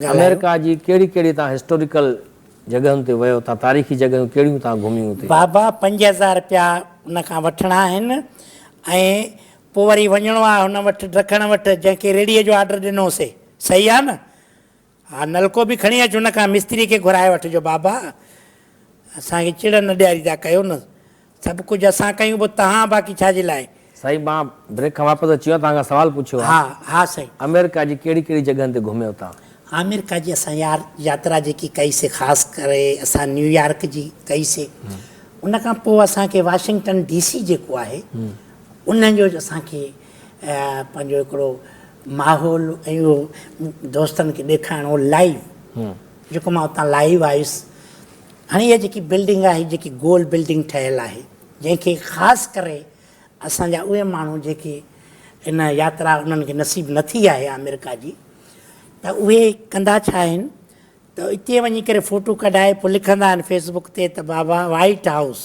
ڳالهايو. امريڪا جي ڪهڙي ڪهڙي تان هسٽوريڪل جڳهن تي ويو تان تاريخي جڳهيون ڪهڙيون تان گهميون اتي. بابا پنج هزار رپيا ان کان وٺڻا آهن ۽ پو وري وڃڻو آهي هن وٽ ڊکڻ وٽ جنهن کي ريڙهي جو آرڊر ڏنو سي صحيح آهي نه ها نلڪو به کڻي اچ هن کان مستري کي گهرائي وٺجو بابا اسان کي چڙ نه ڏياريندا ڪيو نه سڀ ڪجهه اسان ڪيون پوء تهان باقي ڇا جي لاء. سائين مان بريڪ کان واپس اچي ويو توهان کان سوال پڇيو ها. ها سائين. امريڪا جي ڪهڙي ڪهڙي جڳهن تي گهميو توهان؟ آمريڪا جي اسان يار ياترا جيڪي ڪئي سي خاص ڪري اسان نيويارڪ جي ڪئي سي ان کان پوء اسان کي واشنگٽن ڊي سي جيڪو آهي ان جو اسان کي پنهنجو هڪڙو ماحول ۽ اهو دوستن کي ڏيکارڻو لائيو جيڪو مان اتان لائيو آيس هاڻي اها جيڪي بلڊنگ آهي جيڪي گول بلڊنگ ٺهيل آهي جنهن کي خاص ڪري اسان جا اهي ماڻهو جيڪي ان ياترا انهن کي نصيب نه ٿي آهي آمريڪا جي ته اهي ڪندا ڇا آهن ته اتي وڃي ڪري فوٽو ڪڍائي پوء لکندا آهن فيسبوڪ تي ته بابا وائيٽ هائوس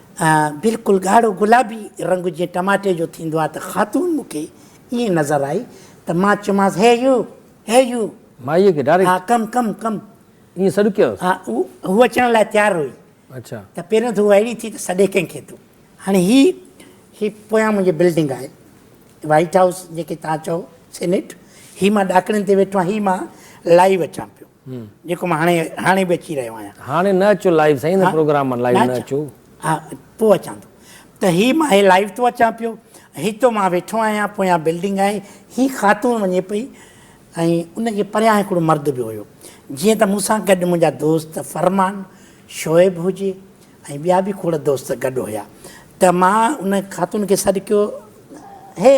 بلڪل ڳاڙهو گلابي رنگ جيئن ٽماٽي جو ٿيندو آهي ته خاتون مون کي ائين نظر آئي ته مان چيومانس هي يو! Hey you! مائيء کي ڊائريڪٽ؟ ها ڪم ڪم ڪم. ائين سڏڪيائوس؟ ها هو اچڻ لاء تيار هئي اڇا. ته پهريون ته هوء اهڙي ٿي ته سڏي ڪنهن کي ٿو. هاڻي هي هي پويان منهنجي بلڊنگ آهي وائيٽ هائوس جيڪي توهان چئو سينيٽ هي مان ڏاڪڻين تي ويٺو آهيان هي مان لائيو اچان پيو. جيڪو مان هاڻي هاڻي به اچي رهيو آهيان. هاڻي نه اچو لائيو سائين هن پروگرام مان لائيو نه اچو. ها پوء اچان ٿو ته هي مان هي لائيو ٿو اچان پيو هتو مان ويٺو آهيان پويان بلڊنگ آهي هي خاتون وڃي پئي ۽ ان جي پريان هڪڙو مرد به هيو جيئن ته مون سان گڏ منهنجا دوست فرمان شعيب هجي ۽ ٻيا به کوڙ دوست گڏ هيا ته مان ان خاتون کي سڏ ڪيو هي!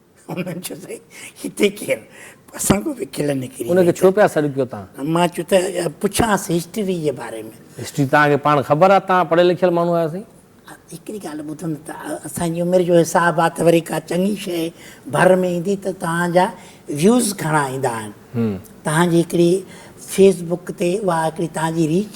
انهن چيو ته هتي ڪير؟ اسان کان به کل نڪري وئي. ان کي ڇو پيا سڏ ڪيو تان؟ مان چيو ته پڇانس هسٽري جي باري ۾. هسٽري تان کي پاڻ خبر آ، تان پڙهيل لکيل ماڻهو آهيو سائين. هڪڙي ڳالهه ٻڌندا ته اسان جي عمر جو حساب آ ته وري ڪا چڱي شيء ڀر ۾ ايندي ته توهان جا ويوز گهڻا ايندا آهن. توهان جي هڪڙي فيس بڪ تي اها هڪڙي توهان جي ريچ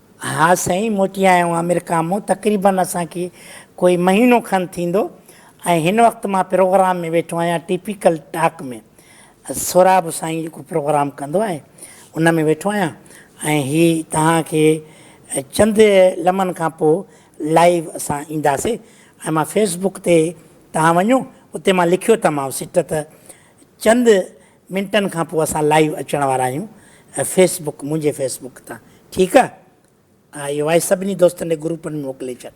ها سائين موٽي آيا آهيون آمريڪا مون تقريبن اسان کي ڪوئي مهينو کن ٿيندو ۽ هن وقت مان پروگرام ۾ ويٺو آهيان ٽيپيڪل ٽاڪ ۾ سهراب سائين جيڪو پروگرام ڪندو آهي ان ۾ ويٺو آهيان ۽ هي توهان کي چند لمحن کان پوء لائيو اسان اينداسي ۽ مان فيس بڪ تي توهان وڃو اتي مان لکيو تمام سٽ ته چند منٽن کان پوء اسان لائيو اچڻ وارا آهيون فيس بڪ منهنجي فيس بڪ تان ٺيڪ آ اهي وائس سڀني دوستن ڏي گروپن ۾ موڪلي ڇڏ.